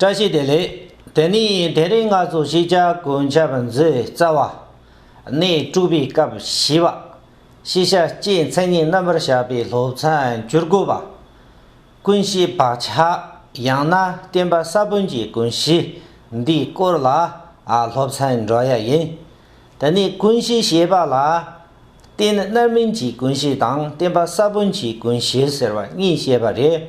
བཀྲ་ཤིས་བདེ་ལེགས། དེ་ནས་དེ་རིང་ང་ཚོ་ཤེས་བྱ་གོན་ཆབ་མཛོད་རྩ་བ། གནས་དཀྲུགས་པའི་སྐབས་བཞི་པ། ཤེས་བྱ་སྤྱིའི་མཚན་ཉིད་རྣམ་པར་བཞག་པའི་སློབ་ཚན་བཅུར་དགུ་པ། ཀུན་གཞིའི་བག་ཆགས་ཡང་ན་བསྟན་པ་ས་བོན་གྱི་ཀུན་གཞི་འདིའི་སྐོར་ལ་སློབ་ཚན་འགྲོ་ཡ་ཡིན། དེ་ནས་ཀུན་གཞི་ཞེས་པ་ལ། རྟེན་རྣམ་སྨིན་གྱི་ཀུན་གཞི་དང་བསྟན་པ་ས་བོན་གྱི་ཀུན་གཞི་ཟེར་བ་གཉིས་བཤད་པ་རེད།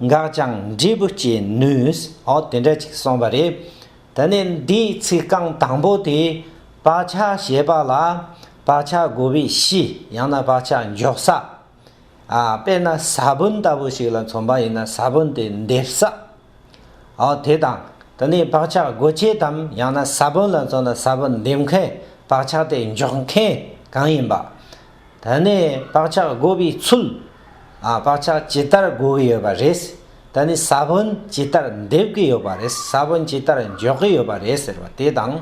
འགག་ཀྱང་འབྲས་བུ་སྐྱེད་ནུས། ཨོ་དེ་འདྲ་ཅིག་གསུངས་པ་རེད། དེ་ནས་འདིའི་ཚིག་རྐང་དང་པོ་དེ། བག་ཆགས་ཞེས་པ་ལ། བག་ཆགས་བསྒོ་བའི་གཞི་ཡང་ན་བག་ཆགས་འཇོག་ས། དཔེར་ན་ས་བོན་ལྟ་བུ་ཞིག་ལ་མཚོན་པ་ཡིན་ན་ས་བོན་དེ་འདེབས་ས། ཨོ་དེ་དང། དེ་ནས་བག་ཆགས་བསྒོ་བྱེད་དམ་ཡང་ན་ས་བོན་ལ་མཚོན་ན་ས་བོན་འདེབས་མཁན་བག་ཆགས་དེ་འཇོག་མཁན་གང་ཡིན་པ། ད་ནི་བག་ཆགས་བསྒོ་བའི་ཚུལ། བག་ཆགས་ཇི་ལྟར་བསྒོ་གི་ཡོད་པ་རེད། ད་ནི་ས་བོན་ཇི་ལྟར་འདེབས་ཀྱི་ཡོད་པ་རེད་ས་བོན་ཇི་ལྟར་འཇོག་གི་ཡོད་པ་རེད་ཟེར་བ་དེ་དང།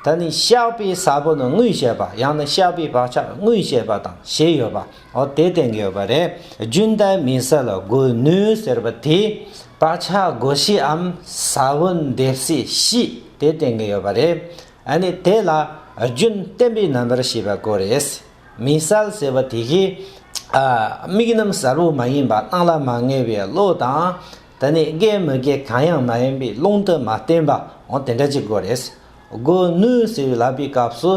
ད་ནི་བཤགས་པའི་ས་བོན་དངོས་བཤད་པ་ཡང་ན་བཤགས་པའི་བག་ཆགས་དངོས་བཤད་པ་དང་ཞེས་ཡོད་པ་འོ་དེ་བསྟན་གྱི་ཡོད་པ་རེད། རྒྱུན་ལྡན་མི་ས་ལ་བསྒོ་ནུས་ཟེར་བ་དེས་བག་ཆགས་བསྒོ་སྲིའམ་ས་བོན་འདེབས་སྲིད་དེ་བསྟན་གྱི་ཡོད་པ་རེད། ཨ་ནི་དེ་ལ་རྒྱུན་བརྟན་པའི་རྣམ་པར་ཤེས་པ་དགོས་རེད། མི་གསལ་ཟེར་བ་དེ་གའི་དམིགས་རྣམ་གསལ་བོ་མ་ཡིན་པ་སྣང་ལ་མ་ངེས་པའི་བློ་དང། ད་ནི་དགའི་མི་དགའི་གང་ཡང་མ་ཡིན་པའི་ཀློང་དུ་མ་བསྟན་པ་འོང་དེ་འདྲ་ཅིག་དགོས་རེད། སྒོ་ནུས་ཟེར་བའི་ལབ་པའི་སྐབས་སུ་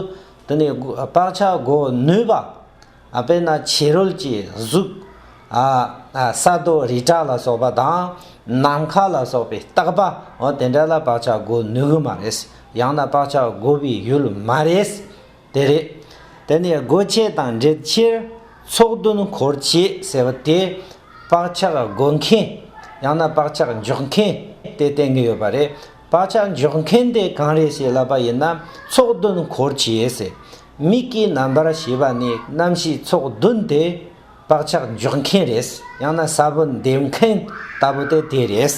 དེ་ནི་བག་ཆགས་སྒོ་ནུས་པ། དཔེར་ན་བྱེ་རོལ་གྱི་གཟུགས། ས་རྡོ་རི་བྲག་ལ་སོགས་པ་དང། ནམ་མཁའ་ལ་སོགས་པའི་རྟག་པ། དེ་འདྲ་ལ་བག་ཆགས་བསྒོ་ནུས་ཀྱི་མ་རེད། ཡང་ན་བག་ཆགས་བསྒོ་བའི་ཡུལ་མ་རེད། དེ་རེད། དེ་ནས་སྒོ་ཁྱད་དང་འབྲེལ་ཕྱིར། ཚོགས་བདུན་འཁོར་བཅས་ཟེར་བ་དེ། བག་ཆགས་བསྒོ་མཁན། ཡང་ན་བག་ཆགས་འཇོག་མཁན། དེ་བསྟན་གྱི་ཡོད་པ་རེད། བག་ཆགས་འཇོག་མཁན་དེ་གང་རེད་ཞེས་ལབ་པ་ཡིན་ན། ཚོགས་བདུན་འཁོར་བཅས་ཟེར། མིག་གི་རྣམ་པར་ཤེས་པ་ནི་རྣམ་ཤེས་ཚོགས་བདུན་ཏེ། བག་ཆགས་འཇོག་མཁན་རེད་ཡང་ན་ས་བོན་འདེབས་མཁན་ལྟ་བུ་སྟེ་དེ་རེད།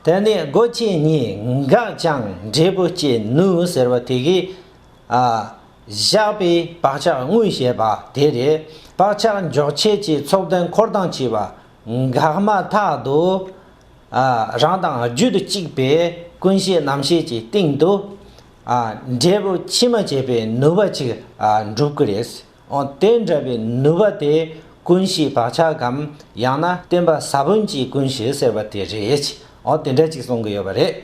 དེ་ནས་སྒོ་བཅད་གཉིས་འགགས་ཀྱང་འབྲས་བུ་སྐྱེ་ནུས་ཟེར་བ་དེ་གའི། བཞག་པའི་བག་ཆགས་དངོས་ཞེས་པ་དེ་རེད། བག་ཆགས་འཇོག་བྱེད་ཀྱི་ཚོགས་བདུན་འཁོར་དང་བཅས་པ་འགགས་མ་ཐག་ཏུ། རང་དང་རྒྱུད་གཅིག་པའི་ཀུན་ཤེས་རྣམ་ཤེས་ཀྱི་སྟེང་དུ། འབྲས་བུ་ཕྱི་མ་བྱེད་པའི་ནུས་པ་ཅིག་འགྲུབ་ཀྱི་རེད། དེ་འདྲ་བའི་ནུས་པ་དེ་ཀུན་གཞིའི་བག་ཆགས་གམ་ཡང་ན་བསྟན་པ་ས་བོན་གྱི་ཀུན་གཞི་ཟེར་བ་དེ་རེད། དེ་འདྲ་ཅིག་གསུང་གི་ཡོད་པ་རེད།